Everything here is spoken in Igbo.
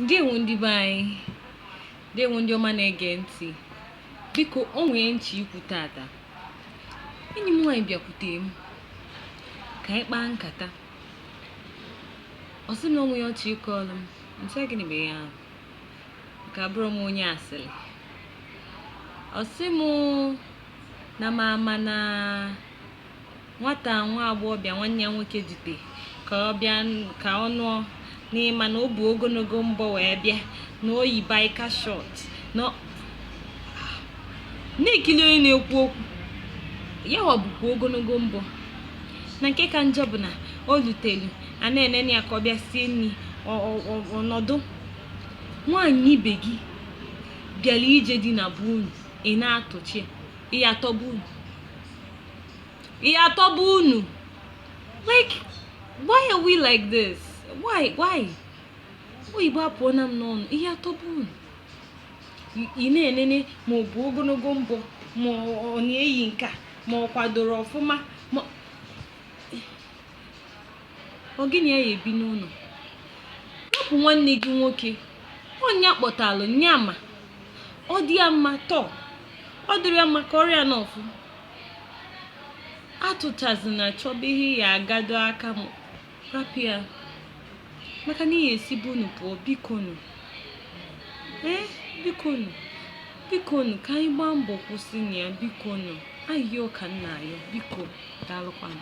ndewo ndị be anyị ndewo ndị ọma na-ege ntị biko o nwee ihe m chọ ikwu tata enyi m nwaanyị bịakwute m ka anyị kpaa nkata ọ sị m na o nwe ihe ọ chọ ịkọọlụ m m sị gịnị bụ ihe ahụ ka abụrụ m onye asịrị ọ sị m na m ama na Nwata nwa agbọghọbịa nwanne ya nwoke dute ka ọ bịa ka ọ nụọ na ị ma na o bu ogologo mbọ wee bịa na o yi biker short na na-ekili onye na-ekwu okwu ya wa bukwa ogologo mbọ na nke ka njọ bụ na o lutelu a na-enene ya ka ọ bịa sie nri ọ- ọ- ọ- ọ nọdụ nwaanyị ibe gị bịara ije di na be unu ị na-atụcha ya, ị ya atọ be unu ya atọ be unu like why are we like this why why oyibo apụọna m n'ọnụ ị ya atọ be unu I- ị na-enene ma o bu ogologo mbọ ma ọ ọ na-eyi nke a ma ọ kwadoro ọfụma ma ọ gị na ya ya ebi n'ụlọ hapụ nwanne gị nwoke ọ nya kpọtalụ nya ma ọ dị ya mma tọọ ọ dịrị ya mma ka ọrịa n'ọfụ atụchazina chọba ihe ị ya agado aka rapụ ya maka na ị ya esi be unu pụọ bikonu ee bikonu bikonu ka anyị gbaa mbọ kwụsịnụ ya bikonu ayịyọ ka m na-ayọ biko daalụkwanụ